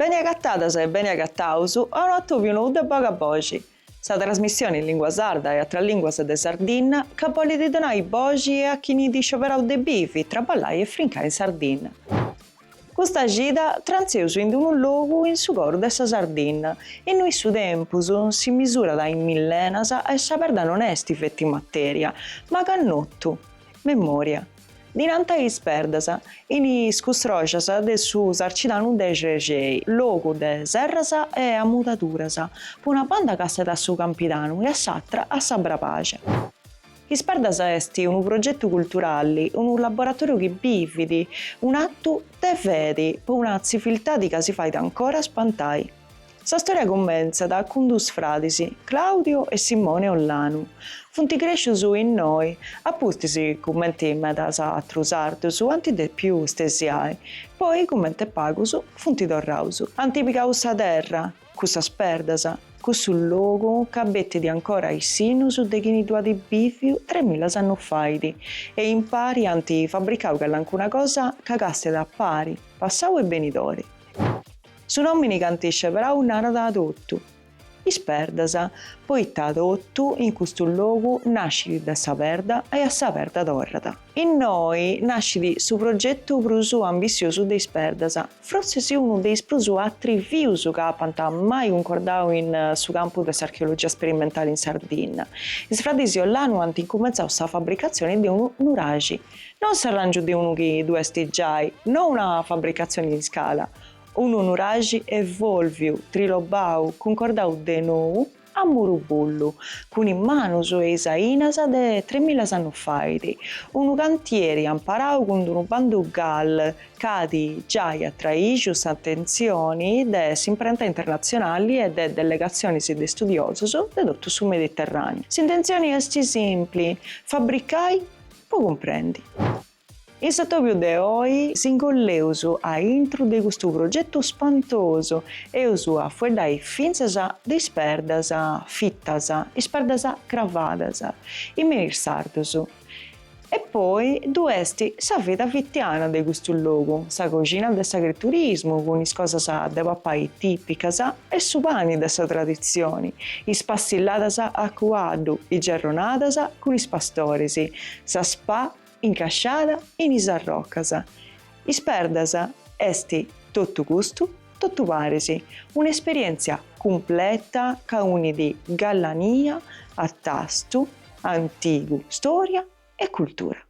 Beni agatadas e beni agataus a unu atobiu nou de Boga Boxi, sa trasmissioni in lingua sarda e atras linguas de Sardinna ca bolidi donai boxi a chini at scioberau de bivi, traballai e frincai in Sardinna. Custa cida trantzeus in unu logu in su coru de sa Sardinna, innui su tempus si misurat in millenas e sa perda non est feti matèria, ma cannotu, memòria. Dinanta a Is Perdas, in is custroxas de su Sarcidanu de Xrexei, logu de serras e amudaduras, po una banda càstiat a su Campidanu e a s'atra a sa Brabaxa. Is Perdas est unu progetu culturali, unu laboratoriu chi bivit, un'atu de fedi po una tziviltadi ca si fait ancora spantai. Sa storia cummentzat cun dus fradis, Claudio e Simone Ollanu. Funt crescius innoi, apustis cumenti medas atrus sardus ant depiu stesiai, poi cumenti pagus funt torraus ant pigau sa terra, Cussas perdas, cussu logu ca bettit ancora is sinnus de chini ddu at bìviu tremilas annus faidi e impari ant fabricau callancuna cosa ca castet a pari, passau e benidori. Su nòmini ca ant sceberau narat totu, Is Perdas, poita totu in custu logu nascit de sa perda e a sa perda torrat. Innoi nascit su progetu prus ambitziosu de Is Perdas, frossis unu de is prus atrivius ca apant mai cuncordau in su campu de s'archeologia sperimentali in Sardinna. Is fradis Ollanu ant incumentzau sa fabricatzioni de unu nuraxi, non s'arràngiu de unu chi ddu est giai, no una fabricatzioni in scala, unu nuraxi evòlviu, trilobau, cuncordau de nou, A muru bullu, cun is manus e is ainas de tremilas annus faidi, unu cantieri amparau cun d'unu bandu GAL ch'adi giai atraixu s'atentzioni de s'imprenta internatzionali e de delegatzionis de studiosus de totu su Mediterràniu. S'intentzioni esti simpli, fabricai po cumprendi. In s'atobiu de oi s'ingolleus a intru de custu progetu spantosu, eus a fueddai fintzas de is perdas fitas, is perdas cravadas, is menhir sardus. E poi ddu est sa vida fitiana de custu logu, sa coxina de s'agriturismu cun is cosas de papai tipicas e su pani de sa traditzioni, is passilladas a cuaddu, is gerronadas cun is pastoris, sa spa Incasciada in is arrocas. Is perdas est totu custu, totu paris, un'esperièntzia cumpleta ca unit gallania a tastu antigu, stòria e cultura.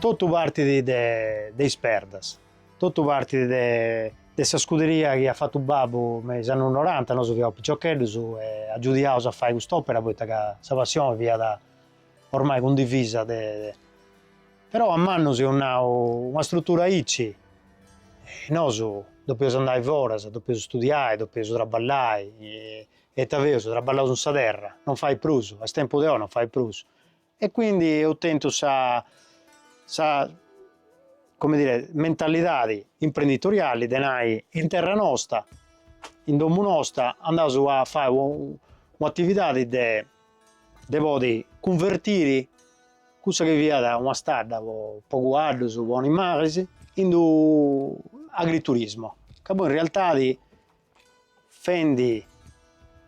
Totu partit de is perdas, totu partit de sa scuderia chi at fatu babbu me is annus noranta, nosu fiaus piciocheddus e agiudiaus a fai cust'opera poita ca sa passioni fiat Ormai cundivisa. Però a mannu s'eus nau, una strutura aici, nosu depeus andai foras, depeus studiai, depeus traballai, e ita feus, traballaus in sa terra, non fait prus, a is tempus de oi non fait prus, e quindi eus tentu sa sa come dire mentalidadi imprenditoriali de nai, in terra nosta, in domu nosta andaus a fai u attividadi de de podi cunvertiri cussa chi fiat una stadda po po cuaddus, po animaris, in d'u agriturismo, ca poi in realtadi bivendi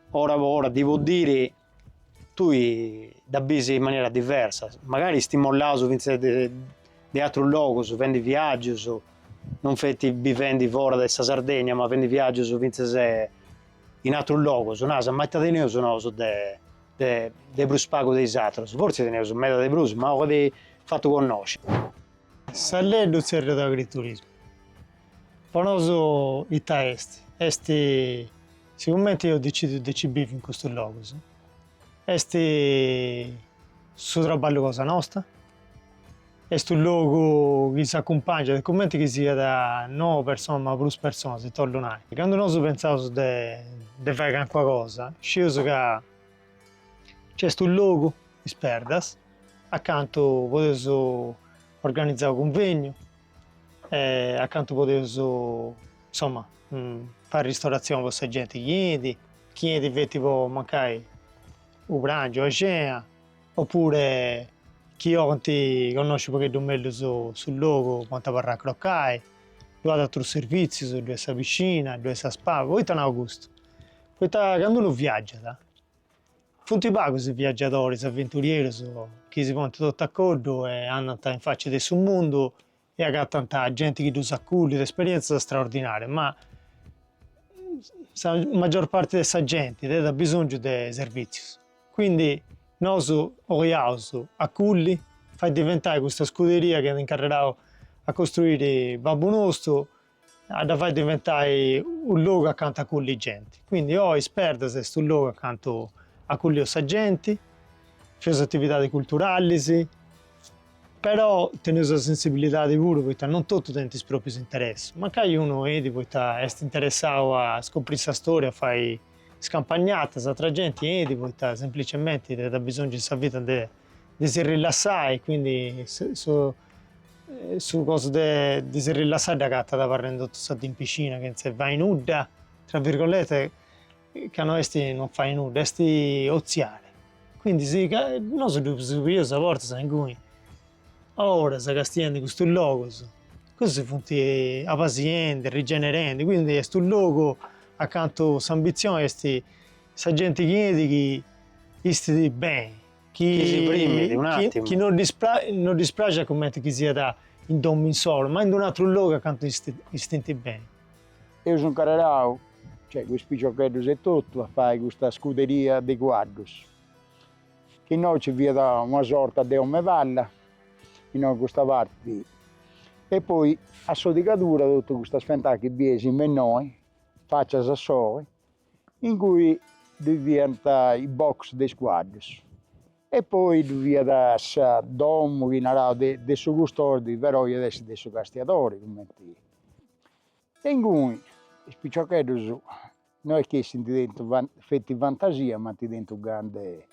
foras po diri tui dda bisi in manera diversa, magari stimolaus finzas de de atrus logus, fendi viaggius, non feti bivendi fora de sa Sardegna, ma fendi viaggius finzas In atrus logos, naras, ma ita teneus nosu de de prus pagu de is atrus? Fortzis teneus meda de prus, ma ocat a fai connosci. S'at a tzerriai agriturismu. Po nosu ita est? Est, sicumenti eus decidiu de nci bivi in custus logos, est su traballu cosa nosta, Est unu logu chi s'acumpàngiat, cumenti chi siat no una persona ma prus personas, e torru nai, candu nosu pentzaus de de fai calincuna cosa, scieus ca nc'est unu logu, Is Perdas, acantu podeus organizai u' cunvegnu, acantu podeus insoma fai ristoratzioni po sa genti chi 'enit, chi 'enit feti po mancai u' prangiu, u' a xena Oppure chi bolint connosci pagheddu mellus su su logu podint abarrai a crocai, ddu at atrus servizius, ddu est sa piscina, ddu est sa spa, poita nau custu? Poita candu unu viaggiat funt pagus is viaggiadoris aventurierus chi si ponint totu a coddu e andant in facia de su mundu e agatant genti chi ddus acullit, esperièntzia straordinària, ma sa maggior parti de sa genti tenit bisòngiu de servìtzius, quindi nosu 'oleus acullì, fai diventai custa scuderia chi at incarrerau a costruiri babbu nostu a dda fai diventai u logu acantu acullì genti, quindi Is Perdas est u logu acantu acullì genti, fai atividadis culturallis, però tenni sa sensibilidadi puru poita non totu tenint is proprius interessus, mancai unu 'enit poita est interessau a scopri sa storia, a fai scampagnatas, atra genti 'enit poita semplicementi tenit abisongiu in sa vida de si rilassai, quindi Su cosu de de si rillassai dd'agatat abarrendi totu sa dì in piscina chentze fai nudda, tra virgolete, ca no esti non fai nudda, esti otziare, quindi si ca nosu ddu seus pigius sa forza inguni a oras castiendi custus logus, cussus funti pasiendi, rigenerendi, quindi est unu logu acantu s'ambitzioni esti sa genti chi 'enit chi istit beni chi si frimit un'àtimu. Chi no ddis parxat cumenti chi siat in domu insolu, ma ind unu atru logu acantu istint beni. Eus incarrerau, cioè is piciocheddus etotu, a fai custa scuderia de cuaddus, chi innoi nci fiat una sorta de omepalla, innoi in custa parti, e poi a sighidura totus custas fentàs chi bieis in mennoi, fàcia a soi, ingui ddoi fiant is box de is cuaddus e poi ddu fiat sa domu chi naraus de de su custodi però iat essi de su castiadori cumenti, e inguni is piciocheddus no est chi essint tentu feti fantasia ma ant tentu gana de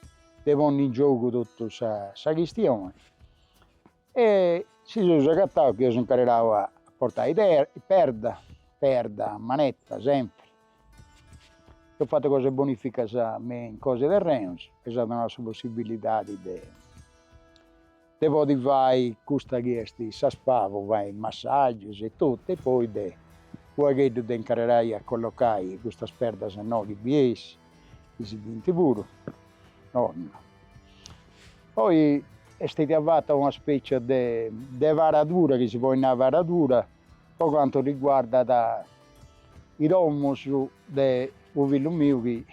de ponni in giogu totu sa sa chistioni E si seus agataus chi eus incarrerau a portai perda, perda, a manetta, sempri. Eus fatu cosa 'e bonificas me in cosa 'e terrenos, eus donau sa possibilidadi de de podi fai custa chi est sa spa, po fai massagius e totu e poi de u' pagheddu de incarrerai a collocai custas perdas innoi chi bieis Chi si bint puru, no. Poi est stètia fatta una specia de de paradura chi si poi nai paradura po cantu riguardat is domus de u fillu miu chi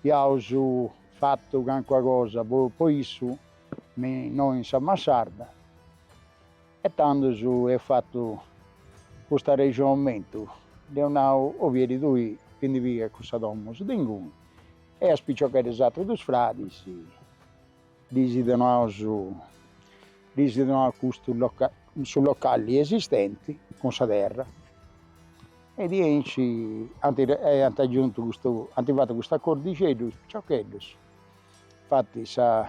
iaus fattu cancuna cosa po po issu innoi in sa massarda. E tandus eus fatu cust'arrexonamentu, dd'eus nau, Ovieri tui ti ndi pigas cussas domus de inguni, e a is piciocheddus atrus dus fradis ddis donaus, ddis donaus custu su locali esistenti cun sa terra, e diaici ant e ant agiuntu custu, ant fatu cust'acordixeddu is piciocheddos Infati sa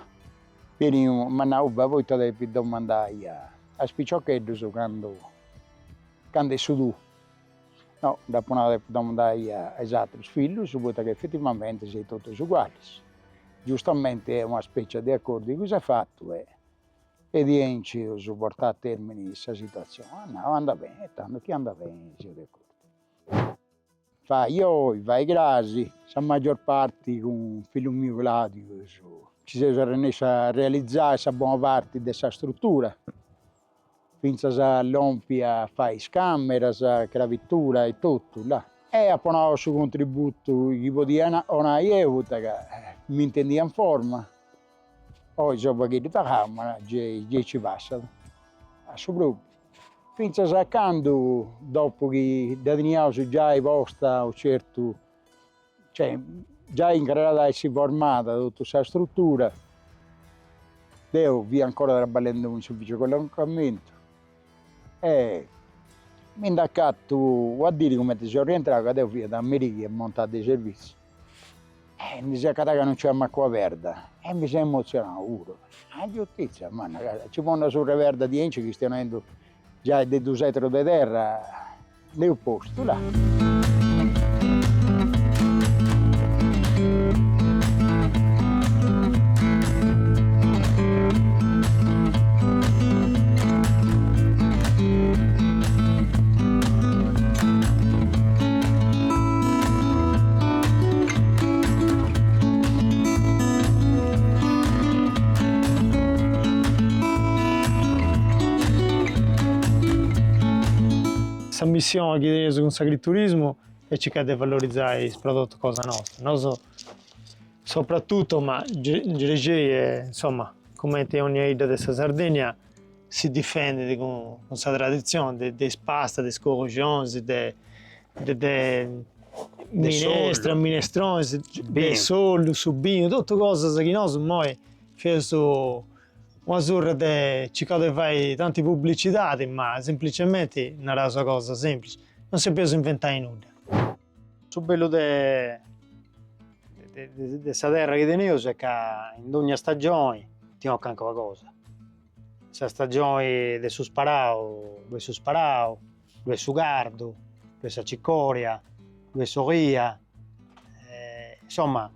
Pieniu m'at nau ba' poita depis domandai a is piciocheddus candu candu est su tuu. No, dd'apu nau depu domandai a is atrus fillus poita ca effetivamenti seis totus ugualis. Giustamenti est una specia de acordiu chi s'est fatu e e diaici eus portau a termini sa situazioni. At nau andat beni e tandu chi andat beni seus de acordiu. Fai oi, fai cras, sa maggior parti cun fillu miu Claudiu nci seus arrennescius a realizai sa bona parti de sa struttura, fintzas a lompi a fai is cameras, crabitura e totu là. E apu 'onau su contributu chi podia 'onai eu poita ca m'intendia in forma. Oi seu u' pagheddu tagau ma gei gei nci passat. A su propriu. Fintzas a candu, dopu chi dda teniaus giai posta unu certu, cioè giai incarrerada a essi formada totu sa strutura, deu fia ancora traballendu in s'ufficiu 'e collocamentu e mi nd'acattu una diri cumenti seu rientrau ca deu fiat a merì chi ia montau de servitziu E mi seu acatau ca non nc'est mancu una perda e mi seu emotzionau puru, a giustizia, manna ca si nci ponnas surra 'e perda diaici chistionendu giai de dus etarus de terra nd'eus postu, là. Sa missioni chi teneus cun s'agriturismu est circai de valorizai is prodotus cosa nostra, nosu sopratutto, ma Gergei e insomma cumenti 'e 'onnia 'idda de sa Sardegna si difendit cun sa traditzioni de is pastas, de is curuxonis, de de minestra, minestronis, de s'ollu, su binu, totu cosas chi nosu immoi feus una surra de circaus de fai tanti publicidadi, ma semplicemente naraus una cosa semplici, non si depeus inventai nudda. Su bellu de de sa terra chi teneus est ca in dogna stagioni ti 'ocat calincuna cosa, sa stagioni de su sparau ddu'est su sparau, ddu'est su cardu, ddu'est sa cicoria, ddu'est s'oria, insomma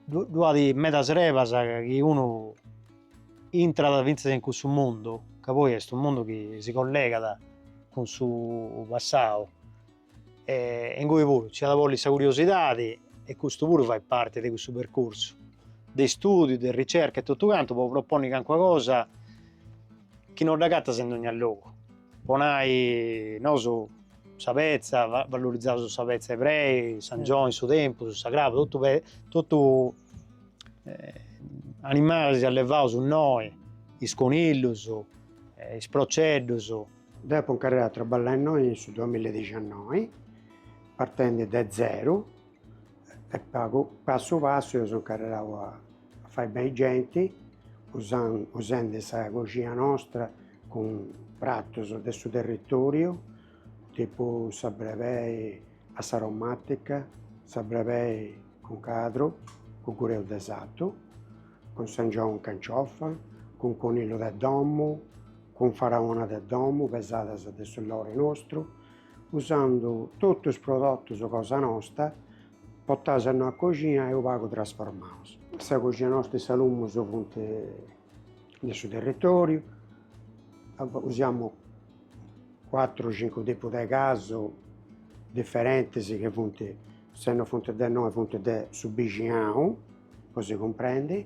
ddu at medas erbas chi unu intrat finzas in cussu mundu ca poi est unu mundu chi si collegat cun su passau E ingoi puru nci at bollit sa curiosidadi e custu puru fait parti de cussu percursu de istudiu, de ricerca e totu cantu po proponni cancuna cosa chi no dd'agatas in dogna logu. Po nai, nosu sa petza, vallorizaus sa petza 'e brebei, s'angioni, su tempus, sa craba, totu totu animalis allevaus innoi, is conillus, is proceddus Deu apo incarrerau a traballai innoi in su duamilla e diciannoi, partendi de zeru e passu passu eus incarrerau a fai beni genti, usendi sa coxina nostra cun pratus de su territoriu, tipu sa brebei a s'aromatica, sa brebei cun cadru, cun gureu de sartu, cun s'angioni in canciofa, cun conillu de domu cun faraona de domu pesadas de su lori nostru, usendi totu is prodotus cosa nosta, potaus a innoi in coxina e u pagu trasformaus. Sa coxina nosta e is salumus funt de su territoriu, usiamu cuatru o cincu tipu de casu diferentis chi funt, se no funt de innoi funt de su bixinau, po si cumprendi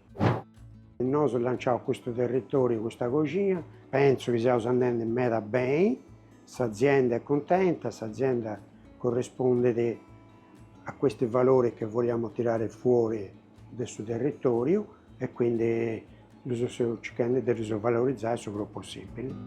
Nosu lanciaus custu territoriu, custa coxina, pentzu chi seus andendi meda beni, s'azienda est cuntenta, s'azienda corrispondit a questi valori che vogliamo tirare fuori de su territoriu e quindi ddus seus circhendi de ddus valorizai su prus possibili.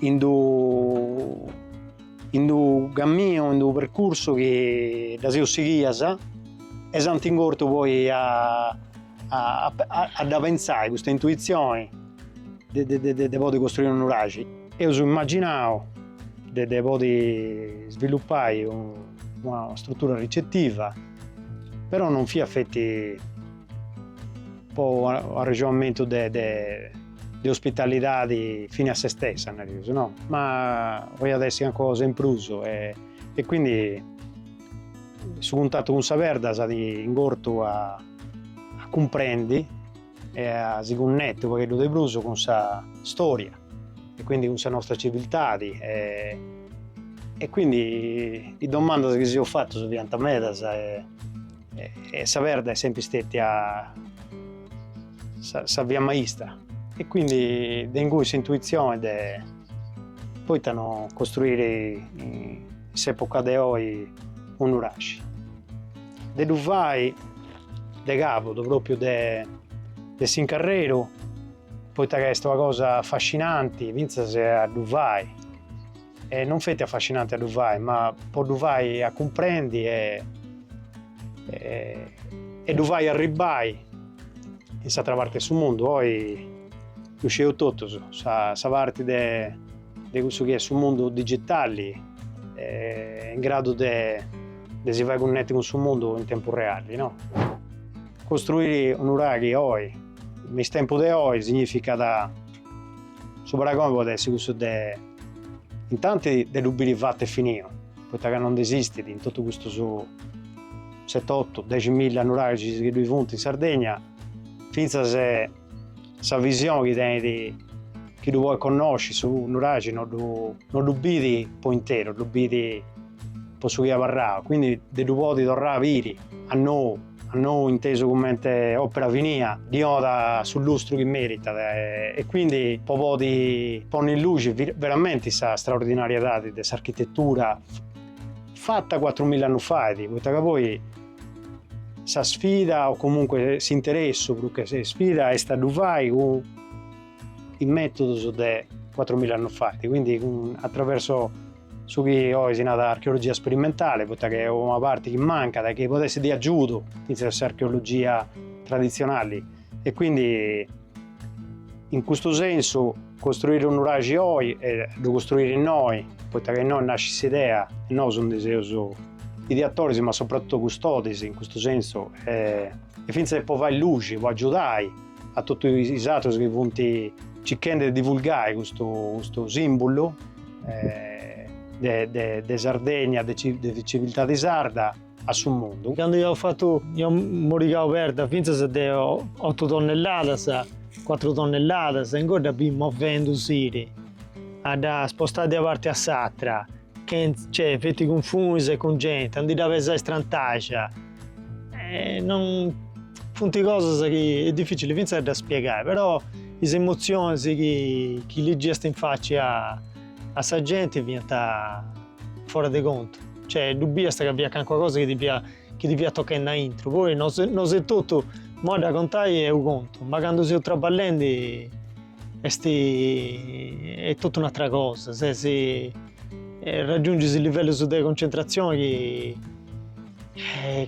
in d'u in d'u camminu, in d'u percursu chi dda seus sighias e s'ant ingortu poi a a dda pentzai custa intuitzioni de de de podi costruì unu nuraxi. Eus imaginau de de podi svilupai una struttura ricettiva, però non fiat feti po u arrexonamentu de de de ospitalidadi fini a se stessa nareus no, ma podiat essi calincuna cosa in prus e quindi su cuntatu cun sa perda si at ingortu a cumprendi e a si cunnetti unu pagheddu de prus cun sa storia e quindi cun sa nostra civiltadi e quindi is domandas chi si seus fatus fiant medas e E sa perda est sempri stetia sa, sa via maistra e quindi de ingui s'intuizione de poita no costruire in s'epoca de oi unu nuraxi de ddu fai de cabudu propriu de de s'incarreru poita ca est una cosa affascinanti finzas a ddu fai. E non feti affascinanti a ddu fai, ma po ddu fai a cumprendi e, e, e ddu fai arribbai in s'atra parti de su mundu. Oi ddu sceus totus, sa, sa parti de, de cussu chi est su mundu digitali, e, est in gradu de, de si fai cunnetti cun su mundu in tempus reali, no? Costruiri un nuraghi oi, in is tempus de oi, significat. Su paragoni podet essi cussu de intanti de ddu biri fatu e finiu, poita ca non nd'esistit in totu custus seti otu dexi milla nuraxis chi ddui funt in Sardegna, fintzas sa visioni chi tenit chi ddu podit connosci, su nuraxi non ddu non ddu bit po interu, ddu bit po su chi at abarrau, quindi de ddu podi torrai a biri a nou nou intesu cummente òpera finia, ddi donat su lustru chi meritat e quindi po podi ponni in luxi veramenti sa straordinariedadi de s'architetura fatta cuattrumilla annus fait, poita ca poi sa sfida o comunque s'interessu prus che sfida est a ddu fai cun is mètodus de cuatrumilla annus fait, quindi atraversu su chi oi si narat archeologia sperimentale, poita ca est una parti chi mancat e chi podet essi de agiudu fintzas a s'archeologia traditzionali e quindi in custu sensu costruire unu nuraxi oi e ddu costruire innoi, poita ca innoi nascit s'idea, nosu ndi seus ideatoris ma soprattutto custodis in custu sensu e fintzas po fai luxi, po agiudai a totu is atrus chi funt circhendi de divulgai custu, custu simbulu de, de, de Sardegna, de civiltadi sarda a su mundu. Candu iau fatu, iau morigau perda finzas de otu tonnelladas, cuatru tonnelladas, inguni dda biri movendusiri, a dda spostai de una parti a s'atra, chenz, cioè feti cun funis e cun genti, a ndi dda pesai strantaxia, Eh, non funt cosas chi est dificili fintzas a ddas spiegai, però is emotzionis chi chi ligiast in faci a a sa genti fiant fora de contu, cioè ddu biast ca fiat calincuna cosa chi ti fiat chi ti fiat tochendi aintru, poi nosu etotu, imoi a dda contai est unu contu, ma candu seus traballendi Est est totu un'atra cosa, ses raggiungis livellos de concentrazioni chi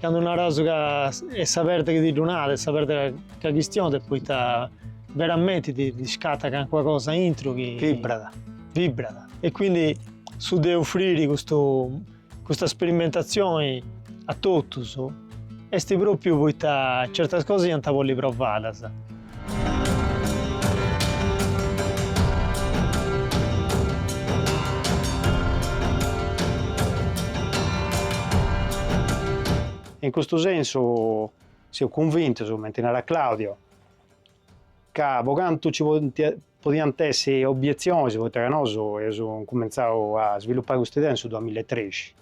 candu naraus ca est sa perda chi ti ddu narat, est sa perda ca chistionat poita veramenti ti ti scattat calincuna cosa aintru chi vibrat, vibrat e quindi su de offriri custu Custa sperimentatzioni a totus est pròpiu poita certas cosas iant a bolli provadas. In custu sensu seu cunvintus, cumenti narat Claudio, ca po cantu ci podiant essi obbietzionis, poita ca nosu eus incumentzau a svilupai custa idea in su duamilla e trexi,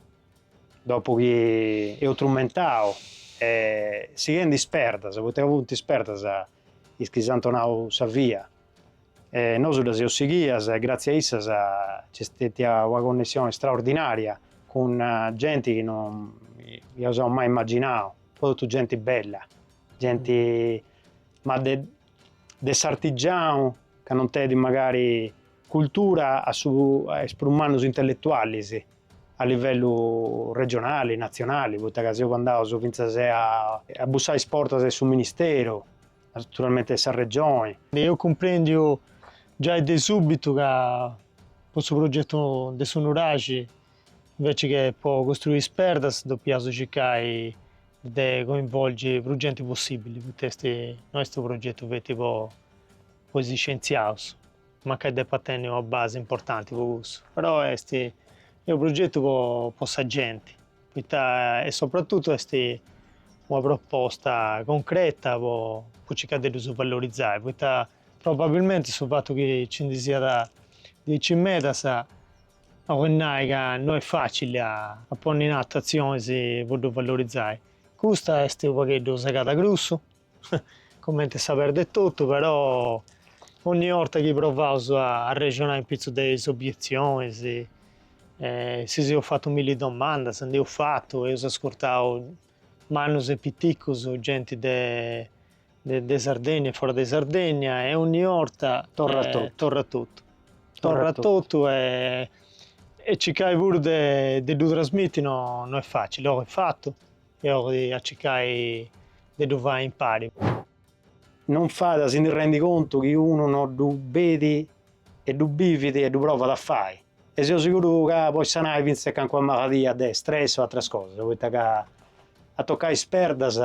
dopu chi eus strumentau e sighendi is perdas, poita ca funt is perdas is chi s'ant donau sa via e nosu ddas eus sighias e gratzias a issas nc'est stètia una connessioni straordinaria cun genti chi non iaus mai imaginau, totu genti bella Genti ma de de s'artigianu ca non tenit magari cultura a is prus mannus intelletualis a livellu regionali, natzionali, poita ca seus andaus fintzas a bussai is portas de su ministeru, naturalmenti de sa regioni. Eus cumprendiu giai de subitu ca po su progetu de su nuraxi Inveci che po costruiri is perdas depiaus circai de coinvolgi prus genti possibili, poita est, no est unu progetu feti po po is scientziaus, mancai depat tenni una basi importanti po cussu, però est est unu progetu po po sa genti, poita e sopratutu est una proposta concreta po po circai de ddus valorizai, poita Probabilmente su fatu chi nci ndi siat diaici medas bolit nai ca no est facili a ponni in atu atzionis po ddu valorizai. Custa est u pagheddu segada grussu, comenti sa perda etotu, però onni orta chi provaus a arrexonai in pitzus de is obietzionis, si seus fatu milli domandas, ndi eus fatu, eus ascurtau Mannus e piticus, genti de de Sardegna e fora de Sardegna e ogni orta torrat totu, torrat totu, torrat totu e e circai puru de de ddu trasmiti no no est facili, oi est fatu e oi a circai de ddu fai impari. Non fait a si ndi rendi contu chi unu no ddu bit e ddu bivit e ddu provat a fai e seu seguru ca podit sanai fintzas calincuna maladia de stress o atras cosas poita ca a toccai is perdas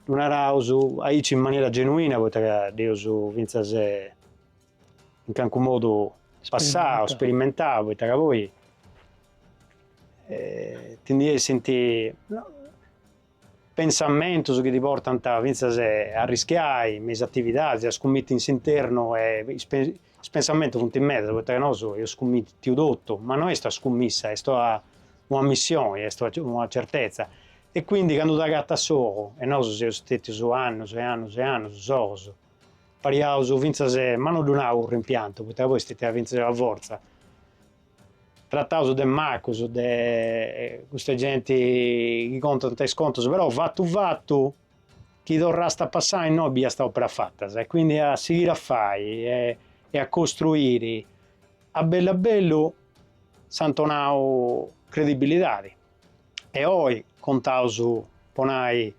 ddu naraus aici in maniera genuina poita ca dd'eus fintzas in calincunu modu passau, sperimentau poita poi ti ndi essint Pensamentos chi ti portant fintzas a arrischiai me is atividadis, a scummitti in s'internu e is pensamentos funt medas poita ca nosu eus scummittiu totu, ma no est una scummissa, est una missioni, est una certezza e quindi candu t'agatas solu e nosu seus stetius annus e annus e annus solus, pariaus fintzas, ma no ddu nau cun rimpiantu poita poi est stetia fintzas una fortza. Trataus de macus, de custa genti chi contant is contus, però fatu fatu chi torràst a passai innoi biiast opera fata e quindi a sighiri a fai e a costruiri a bellu a bellu si ant donau credibilidadi e oi contaus po nai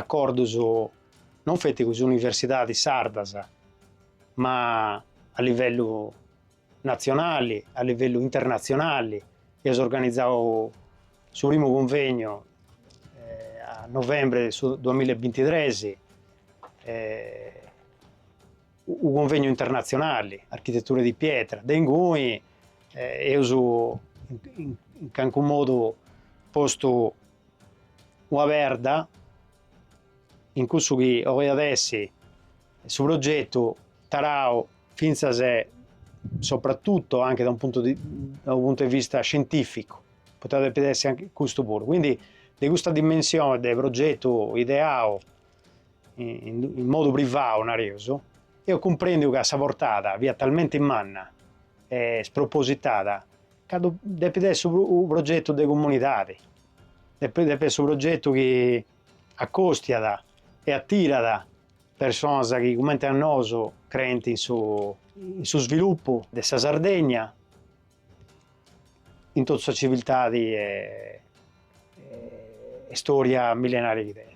acordus non feti cun is universidadis sardas ma a livellu natzionali, a livellu internatzionali, eus organizau su primu cunvegnu a novembre de su duamilla e bintitres, unu cunvegnu internatzionali, architetture di pietra, de inguni eus in calincunu modu postu una perda in cussu chi oi at essi Su progetu tarau fintzas e sopratutto anche da un punto di da un punto di vista scientifico, poita depit essi anche custu puru, quindi de custa dimensione de progetu ideau in modu privau nareus, eus cumprendiu ca sa portada fiat talmente manna e spropositada ca depit essi unu progetu de comunidadi, depit essi unu progetu chi accostiat e attirat Personas chi cumenti a nosu creint in su, in su sviluppu de sa Sardegna, in totu sa civiltadi e, e storia millenaria chi tenit.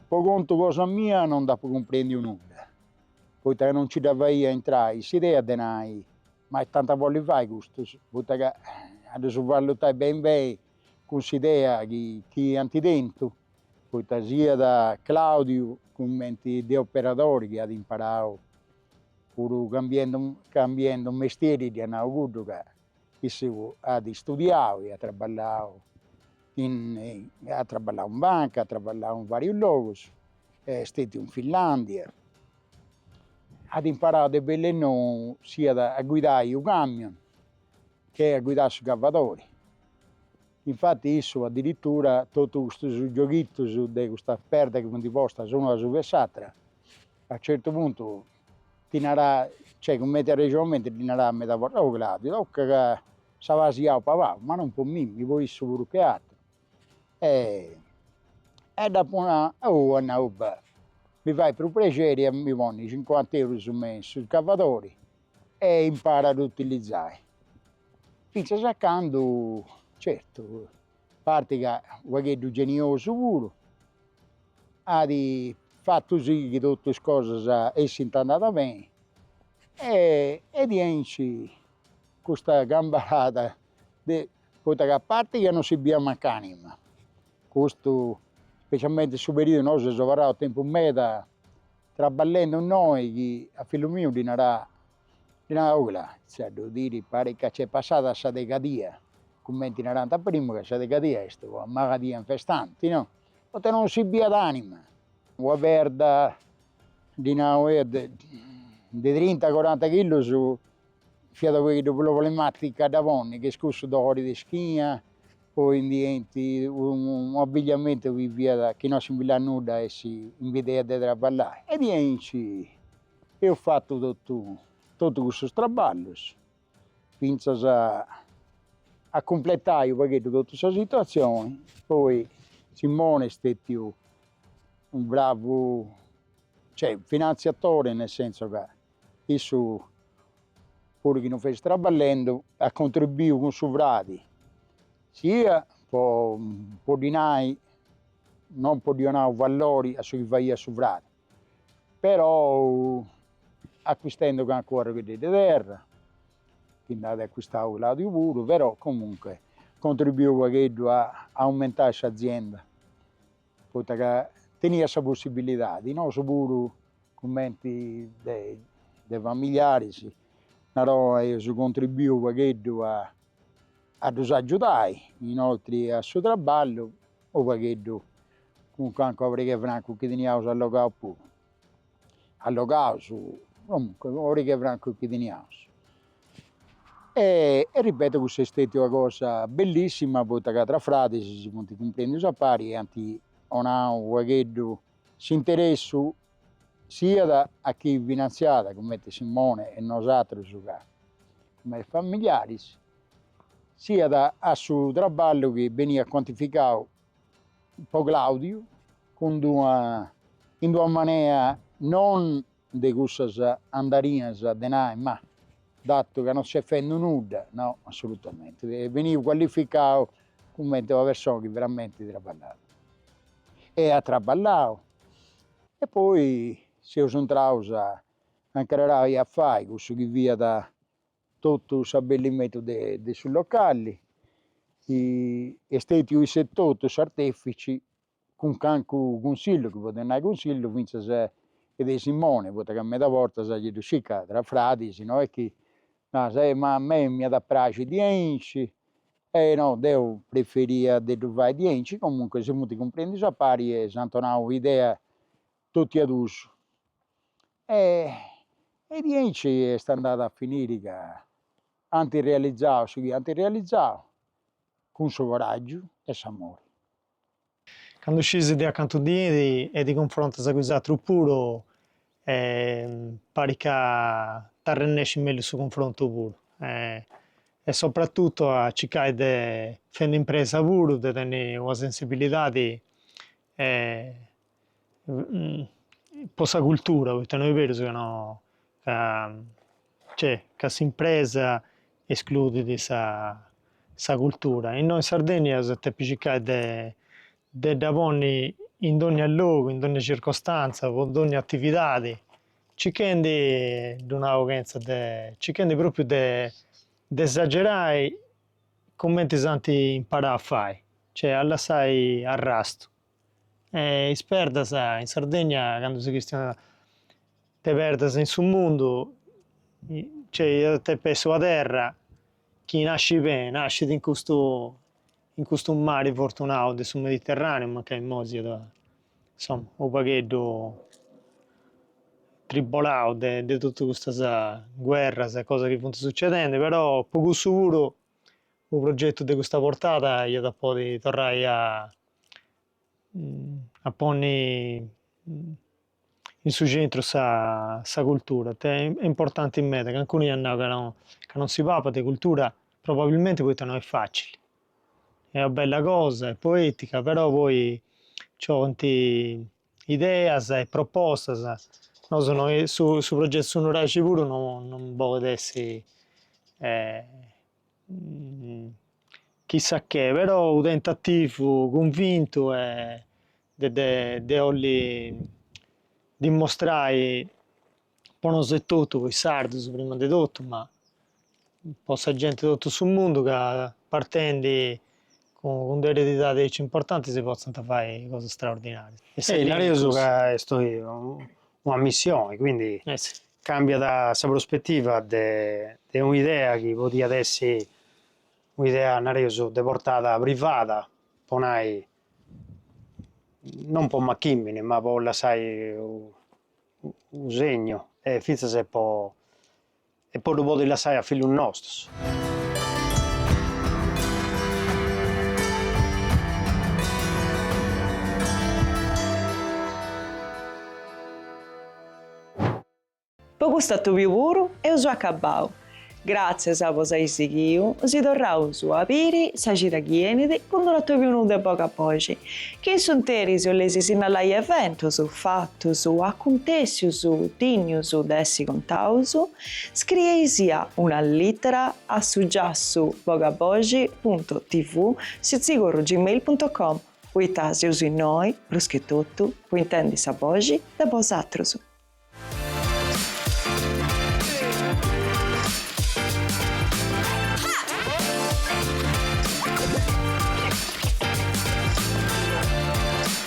Po contu cosa mia non nd'apu cumprendiu nudda, poita ca non nci dda faia intrai s'idea de nai, ma est tanti 'olint fai custus, poita ca a ddus valutai beni beni cun s'idea chi iant tentu, poita siat Claudiu cumenti de operadori chi at imparau puru cambiendu cambiendu mestieri, dd'ia nau cuddu ca Issu at istudiau e at traballau at traballau in banca, at traballau in varius logus, est stètiu in Finlàndia, at imparau de bellu e nou siat a guidai u' camion che a guidai su cavadori. Infati issu adiritura totu custus gioghitus de custa perda chi funt postas una asuba 'e s'atra a certu puntu Ti narà, cioè cumenti arrexonamenti ddi narà meda bortas, oh Claudiu, tocat ca ses abasciau pagau, ma non po mimmi, po issu puru che aturu. E dd'apu nau, oh at nau, beh, mi fait prus prexeri a mi ponni cincuanta eurus me in su scavadori e imparu a ddu utilizai, fintzas a candu, certu A parti ca u' pagheddu geniosu puru at fatu si chi totu is cosas essint andadas beni e diaici custa cambalada de, poita ca parit ca no si biiat mancu anima, custu specialmenti in su periudu, nosu seus abarraus tempus meda traballendi innoi chi a fillu miu ddi narà O Clà, cioè depu diri parit ca nc'est passada sa degadia, cumenti narant a primu ca sa degadia fiat una maladia infestante, no? Poita non si biat anima. Una perda, ddi nau eo, de de trinta coranta chillus fiat unu pagheddu problematica a dda ponni, cun cussu dolori de ischina, poi nci 'enit unu abigliamentu chi fiat, chi non si biiat nudda e s'impediat de traballai e diaici Eus fatu totu totu cussus traballus fintzas a a cumpletai unu pagheddu totu sa situatzioni, poi Simone est stètiu unu bravu, cioè finantziatore, nel senso ca issu puru chi non fessit traballendi at contribuiu cun su fradi, sia po po ddi nai, non po ddi 'onai u' vallori a su chi faiat su fradi, però accuistendu cancu arrogheddeddu 'e terra chi nd'at accuistau Claudiu puru, però comunque contribuiu unu pagheddu a aumentai s'azienda, poita ca teniat sa possibilidadi, nosu puru cumenti de familiaris narò aius contribuiu unu pagheddu a ddus agiudai, inoltri a su traballu unu pagheddu cun cancu pari 'e francu chi teniaus allogau puru, allogaus comunque pari 'e francu chi teniaus e ripeto cuss'est stètiu una cosa bellissima poita ca tra fradis si funt cumprendus a pari e ant 'onau unu pagheddu s'interessu siat a chi finanziat cumenti Simone e nosatrus ca cumenti familiaris siat a su traballu chi beniat cuantificau po Claudiu cun d'una, in d'una manera non de cussas andarinas de nai, ma datu ca non ses fendu nudda, no, assolutamenti, beniat cualificau cumenti una persona chi veramenti traballat e at traballau e poi seus intraus a nche narau e a fai cussu chi fiat Totu s'abbellimentu de de su localli chi est stètiu iss'etotu s'artèfici cun cancu cunsillu, chi podit nai cunsillu, fintzas de Simone, poita ca medas bortas giai ddu scis ca tra fradis no est chi naras, eh ma a mei m'iat praxi diaici, eh no deu preferia de ddu fai diaici, comunque si funt cumprendus a pari e s'ant donau idea totu a duus. E e diaici est andadu a finiri ca ant realizau su chi ant realizau cun su coràgiu e s'amori. Candu sciis de acantu benis e ti cunfrontas cun is atrus puru e parit ca t'arrennescit mellus su cunfrontu puru e sopratutu a circai de fendi impresa puru, de tenni una sensibilidadi e po sa cultura poita no est berus ca no ca cioè ca s'impresa escludit sa sa cultura e innoi in Sardegna eus a depi circai de de dda ponni in dogna logu in dogna circostanza po dogna atividadi circhendi ddu nau chenza de circhendi propriu de de esagerai cumenti s'ant imparau a fai cioè a lassai arrastu E is perdas in Sardegna candu si chistionat de perdas in su mundu custa iat depi essi una terra chi nascit beni, nascit in custu in custu mari fortunau de su Mediterraneu mancai imoi siat insoma unu pagheddu tribolau de de totu custas guerras e cosas chi funt sucedendi però po cussu puru Unu progetu de custa portada iat a podi torrai a a ponni in su centru sa sa cultura, est importanti meda, calincunu iat nau ca non si papat de cultura probabilmenti poita no est facili, est una bella cosa, est poetica, però poi nci 'olint ideas e propostas, nosu no su progetu Su Nuraxi puru non bolit essi Chissà che, però u tentativu cunvintu e de de de 'olli dimmostrai po nosu etotu, po is sardus prima de totu, ma po sa genti de totu su mundu ca partendi cun de eredidadi aici importanti si potzant fai cosas straordinarias. Nareus ca est oi una missioni, quindi cambiat sa prospettiva de de un'idea chi podiat essi un'idea nareus de portada privada, po nai non po machimini ma po lassai u u segnu e finzas e po E po ddu podi lassai a fillus nostus. Po custu atobiu puru eus acabau. Gratzias po s'ai sighiu, si torraus a biri sa cida chi enit cun d'unu atobiu nou de Bogaboxi, chi in s'interis 'oleis sinnalai eventus, fat. Acuntèssius dignus de essi contadus, scrieisì una lìtera a su giassu bogaboxi punto tv sitzigorru gmail punto com poita seus innoi, prus che totu, po intendi sa boxi de bosatrus.